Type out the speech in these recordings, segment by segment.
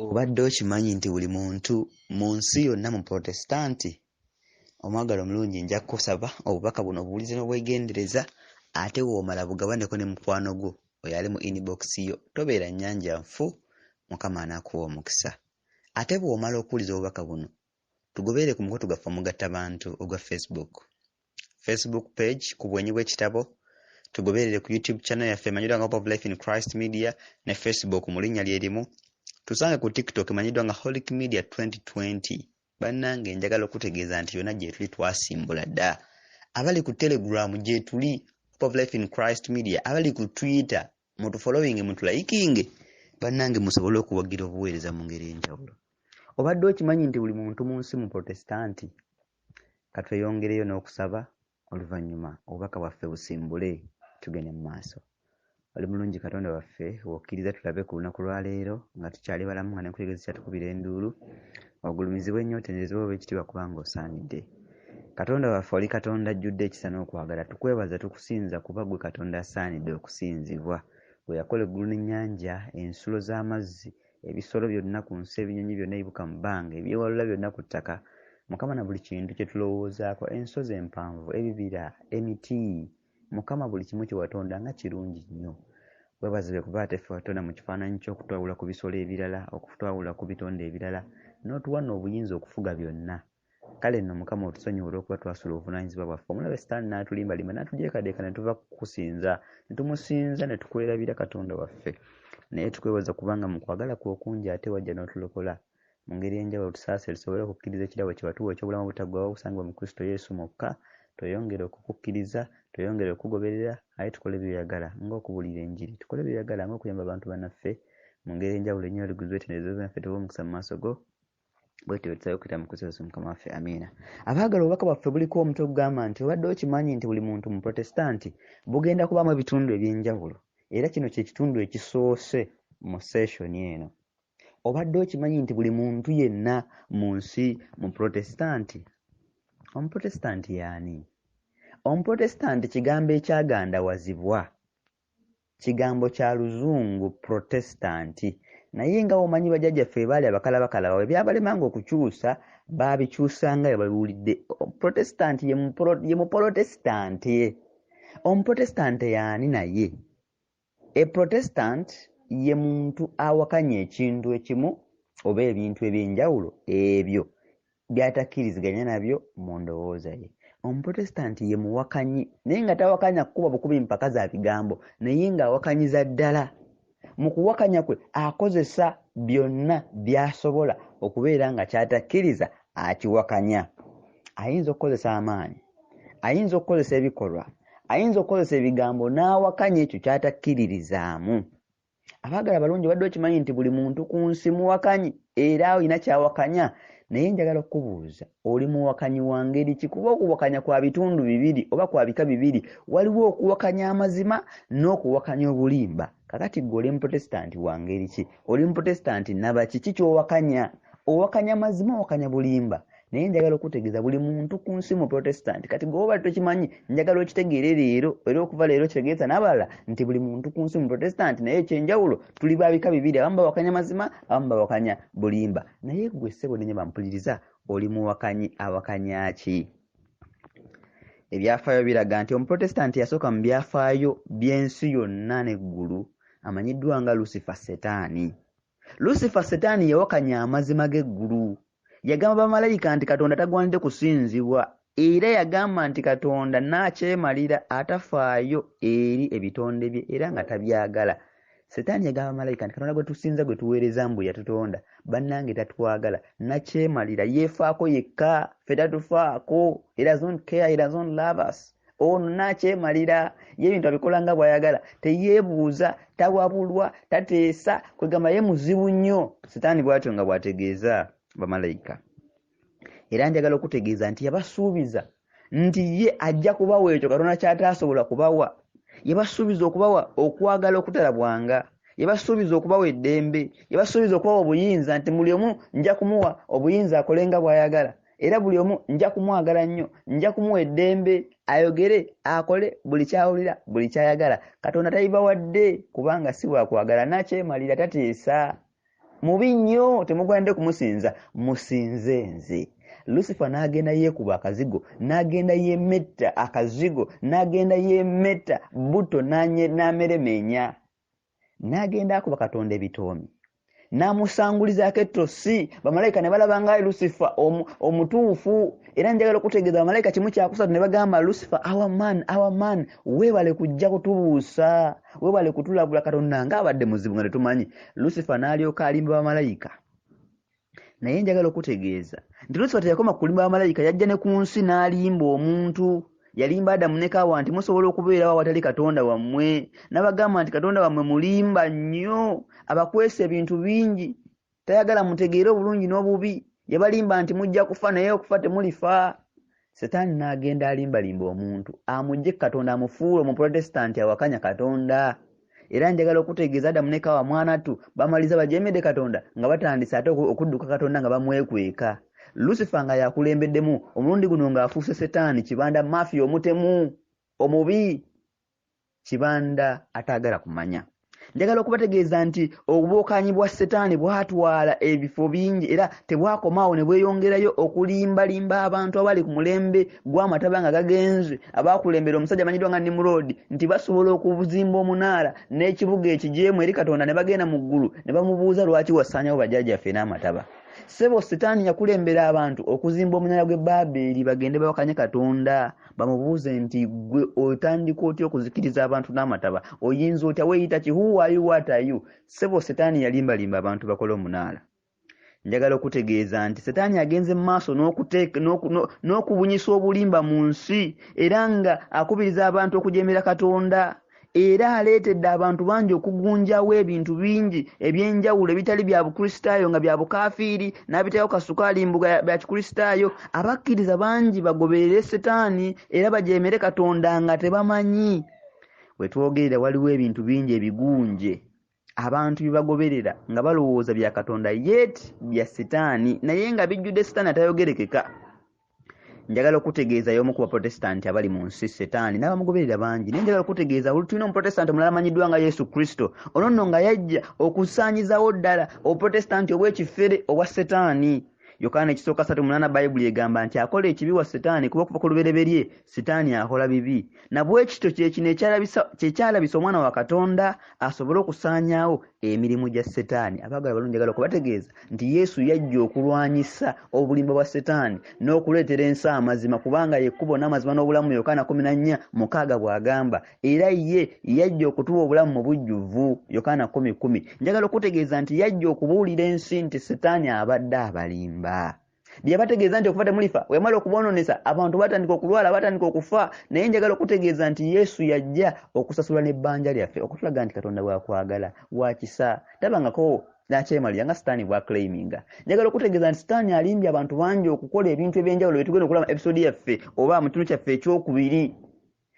Obadde okimanyi nti buli muntu mu nsi yonna mu Protestanti omwagala omulungi nja kukusaba obubaka buno obuwulize n'obwegendereza ate w'omala bugabaneko ne mukwano gwo oyo ali mu inbox yo. Tobeera nnyanja nfu, Mukama anaakuwa omukisa. Ate bw'omala okuwuliza obubaka buno, tugoberere ku mukutu gwaffe omugattabantu ogwa Facebook. facebook page ku bwenyi bw'ekitabo tugoberere ku youtube channel yaffe emanyiddwa nga hope of life in christ media ne facebook mu linnya lye limu tusange ku tiktok emanyiddwa nga holic media 2020 bannange njagala okutegeeza nti yonna gyetuli twasimbula dda abali ku telegram gyetuli hope of life in christ media abali ku twitter mutufolowinge mutulayikinge bannange musobole okuwagira obuweereza mu ngeri enjawulo obadde okimanyi nti buli muntu mu nsi mu protestanti Ka tweyongereyo n'okusaba, oluvannyuma obubaka bwaffe busimbule tugende mu maaso. Oli mulungi Katonda waffe, w'okkiriza tulabe ku lunaku lwa leero nga tukyali balamu nga n'enkutegezo ekyatukubira enduulu. Ogulumizibwe nnyo, otenderezebwe, owe ekitiibwa kubanga osaanidde. Katonda waffe oli Katonda ajjudde ekisa n'okwagala. Tukwebaza, tukusinza kuba ggwe Katonda asaanidde okusinzibwa. Ggwe eyakola eggulu n'ennyanja, ensulo z'amazzi, ebisolo byonna ku nsi ebinyonyi byonna ebibuka mu bbanga ebyewalula byonna ku ttaka mukama na buli kintu kye tulowoozaako ensozi empanvu ebibira emiti mukama buli kimu kye watonda nga kirungi nnyo webazibe kuba ate ffe watonda mu kifaananyi ky'okutwawula ku bisolo ebirala okutwawula ku bitonde ebirala n'otuwa no obuyinza okufuga byonna kale nno mukama otusonyiwe olw'okuba twasula obuvunaanyizibwa bwaffe omulabe sitaani n'atulimbalimba n'atujeekadeeka ne tuva kukusinza ne tumusinza ne tukwerabira katonda waffe naye tukwebaza kubanga mu kwagala kwe okungi ate wajja n'otulokola mu ngeri enjawulo tusaasire tusobole okukkiriza ekirabo kye watuwa eky'obulamu obutaggwawo obusangibwa mu kristo yesu mwokka tweyongere okukukkiriza tweyongere okukugoberera aye tukole byoyagala ng'okubuulira enjiri tukole byoyagala ng'okuyamba abantu banaffe mu ngeri enjawulo ennyo liguzwe tenderezo zinaffe tuba omukisa mu maaso go bwetyo bwetusabe okuyita mu kristo yesu mukama waffe amiina abaagala obubaka bwaffe buliko omutwe ogugamba nti obadde okimanyi nti buli muntu muprotestanti bugenda kubaamu ebitundu ebyenjawulo era kino kyekitundu ekisoose mu session eno obadde okimanyi nti buli muntu yenna mu nsi muprotestanti omuprotestanti yaani omuprotestanti kigambo ekyagandawazibwa kigambo kya luzungu protestanti naye nga omanyi bajajjaffe ebaali abakalabakalabawo ebyabalemanga okukyusa baabikyusanga we babiwulidde protestanti ye mupolotesitanti omuprotestanti yaani naye eprotestanti ye muntu awakanya ekintu ekimu oba ebintu ebyenjawulo ebyo by'atakkiriziganya nabyo mu ndowooza ye. Omuprotestanti ye muwakanyi naye nga tawakanya kukuba bukubi mpaka za bigambo naye ng'awakanyiza ddala. Mu kuwakanya kwe akozesa byonna by'asobola okubeera nga ky'atakkiriza akiwakanya. Ayinza okukozesa amaanyi, ayinza okukozesa ebikolwa, ayinza okukozesa ebigambo n'awakanya ekyo ky'atakkiririzaamu. abaagala abalungi obadde okimanyi nti buli muntu ku nsi muwakanyi era olina kyawakanya naye njagala okukubuuza oli muwakanyi wa ngeri ki kuba okuwakanya kwa bitundu bibiri oba kwa bika bibiri waliwo okuwakanya amazima n'okuwakanya obulimba kakati gwe oli muprotestanti wa ngeri ki oli muprotestanti naba kiki kyowakanya owakanya mazima owakanya bulimba naye njagala okutegeeza buli muntu ku nsi mu protestant kati gweoba tokimanyi njagala okitegeere leero era okuva leero kitegeeza n'abalala nti buli muntu ku nsi mu protestant naye ekyenjawulo tuli babika bibiri abamu bawakanya mazima abamu bawakanya bulimba naye gwe ssebo nenye bampuliriza oli muwakanyi awakanya ki ebyafaayo biraga nti omuprotestanti yasooka mu byafaayo by'ensi yonna n'eggulu amanyiddwa nga lucifer setaani Lusifa Setaani yawakanya amazima g'eggulu. Yagamba bamalayika nti Katonda tagwanidde kusinzibwa era yagamba nti Katonda n'akyemalira atafaayo eri ebitonde bye era nga tabyagala. Setaani yagamba bamalayika nti Katonda gwe tusinza gwe tuweereza mbu yatutonda bannange tatwagala nakyemalira yeefaako yekka ffe tatufaako era zon care era zon lovers. ono nakyemalira ye ebintu abikola nga bwayagala teyebuuza tawabulwa tateesa kwegamba ye muzibu nnyo sitaani bwatyo nga bwategeeza bamalayika era njagala okutegeeza nti yabasuubiza nti ye ajja kubawa ekyo katonda kyataasobola kubawa yabasuubiza okubawa okwagala okutalabwanga yabasuubiza okubawa eddembe yabasuubiza okubawa obuyinza nti muli omu nja kumuwa obuyinza akolenga bwayagala era buli omu nja kumwagala nnyo nja kumuwa eddembe ayogere akole buli kyawulira buli kyayagala katonda tayibawadde kubanga si wakwagala nakyemalira tateesa mubi nnyo temugwanidde kumusinza musinze nze lusifa n'agenda yeekuba akazigo n'agenda yemetta akazigo n'agenda yemetta butto n'ameremeenya n'agenda akuba katonda ebitoomi n'amusangulizaako ettosi bamalayika ne balaba nga lusifa omutuufu era njagala okutegeeza bamalayika kimu kyakusatu ne bagamba lusifa our man our man weebale kujja kutubuusa weebale kutulabula katonda nga abadde muzibu nga tetumanyi lusifa n'alyoka alimba bamalayika naye njagala okutegeeza nti lusifa teyakoma kulimba bamalayika yajja ne ku nsi n'alimba omuntu yalimba adamu ne kaawa nti musobola okubeerawo awatali katonda wammwe n'abagamba nti katonda wammwe mulimba nnyo abakwesa ebintu bingi tayagala mutegeere obulungi n'obubi yabalimba nti mujja kufa naye okufa temulifa Setaani n'agenda alimbalimba omuntu amugye ku Katonda amufuule Omuprotestanti awakanya Katonda. Era njagala okutegeeza Adamu ne Kaawa mwanattu bamaliza bajeemedde Katonda nga batandise ate okudduka Katonda nga bamwekweka. Lusifa nga y'akulembeddemu, omulundi guno ng'afuuse Setaani kibanda, mafiya, omutemu, omubi. kibanda ataagala kumanya njagala okubategeeza nti obubuukanyi bwa setaani bwatwala ebifo bingi era tebwakomaawo ne bweyongerayo okulimbalimba abantu abali ku mulembe gw'amataba nga gagenze abaakulembera omusajja amanyiddwa nga nimuroodi nti basobola okuzimba omunaala n'ekibuga ekijeemu eri katonda ne bagenda mu ggulu ne bamubuuza lwaki wasaanyawo bajajaffe n'amataba sebo setaani yakulembera abantu okuzimba omunaala gw'e baabeeri bagende bawakanye katonda bamubuuze nti gwe otandika otya okuzikiriza abantu n'amataba oyinza otya weyita ki huwayu watayu sebo setaani yalimbalimba abantu bakole omunaala njagala okutegeeza nti setaani agenze mu maaso n'okubunyisa obulimba mu nsi era nga akubiriza abantu okujemera katonda era aleetedde abantu bangi okugunjawo ebintu bingi eby'enjawulo ebitali bya bukristaayo nga bya bukaafiiri n'abiteekako kasukaali mbuga bya kikristaayo abakkiriza bangi bagoberere setaani era bajeemere katonda nga tebamanyi we twogerera waliwo ebintu bingi ebigunje abantu byebagoberera nga balowooza bya katonda yet bya sitaani naye nga bijjudde sitaani atayogerekeka njagala okutegeeza y'omu ku baprotestanti abali mu nsi setaani n'abamugoberera bangi naye njagala okutegeeza buli tulina omuprotestanti omulala amanyiddwa nga yesu kristo ono nno nga yajja okusaanyizawo ddala obuprotestanti obw'ekifere obwa setaani yokaana ekisooka satu munana bayibuli egamba nti akola ekibi wa setaani kuba okuva ku lubereberye sitaani akola bibi nabwekityo kyekino kyekyalabisa omwana wa katonda asobole okusaanyaawo emirimu gya setaani abagala balungi agala okubategeeza nti yesu yajja okulwanyisa obulimba bwa setaani n'okuleetera ensi amazima kubanga yekkubo n'amazima n'obulamu yokaana 14 mukaaga bw'agamba era ye yajja okutuwa obulamu mu bujjuvu yokaana 11 njagala okutegeeza nti yajja okubuulira ensi nti setaani abadde abalimba byebategeeza nti okufa temulifa wemala okuboononesa abantu batandika okulwala batandika okufa naye njagala okutegeeza nti yesu yajja okusasula n'ebbanja lyaffe okutulaga nti katonda bwakwagala wakisa tabangako nakyemalira nga sitaani bwaclaiminga njagala okutegeeza nti sitaani alimbye abantu bangi okukola ebintu ebyenjawulo byetugenda okulaba episode yaffe oba mu kitundu kyaffe ekyokubiri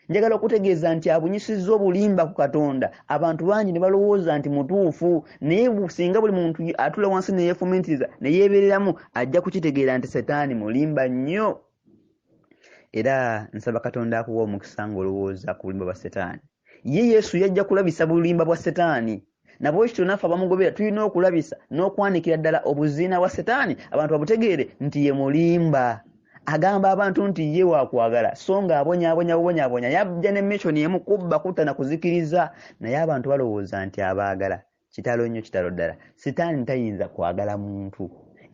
njagala okutegeeza nti abunyisizza obulimba ku katonda abantu bangi ne balowooza nti mutuufu naye singa buli muntu atula wansi neyefumiitiriza ne yeebereramu ajja kukitegeera nti setaani mulimba nnyo era nsaba katonda akuwa omukisa ng'olowooza ku bulimba bwa setaani ye yesu yajja kulabisa bulimba bwa setaani nabwekityo naffe abamugobera tulina okulabisa n'okwanikira ddala obuziina bwa setaani abantu babutegeere nti ye mulimba agamba abantu nti ye wakwagala so nga abonyabonya bubonyabonya yajja ne missioni emu kubba kutta na kuzikiriza naye abantu balowooza nti abaagala kitalo nnyo kitalo ddala setaani tayinza kwagala muntu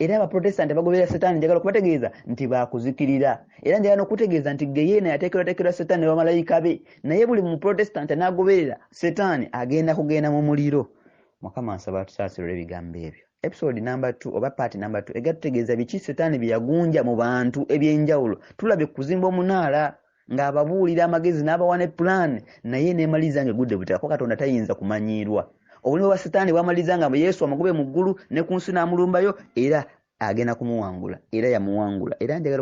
era abaprotestanti bagoberera setaani njagala okubategeeza nti bakuzikirira era njagala nokutegeeza nti geyeena yateekerwateekerwa setaani nebamalayika be naye buli muprotestant anagoberera setaani agenda kugenda mu muliro mukama nsaba tusaasira olw'ebigambo ebyo episode number t oba paati number t ega tutegeeza biki setaani byeyagunja mu bantu ebyenjawulo tulabye kuzimba omunaala ng'ababuulira amagezi n'abawa ne pulaani naye neemaliza nga egudde butaka ko katonda tayinza kumanyiirwa obulimi bwa setaani bwamaliza nga yesu amugube mu ggulu ne ku nsi n'amulumbayo era agenda kumuwangula era yamuwangula era njagala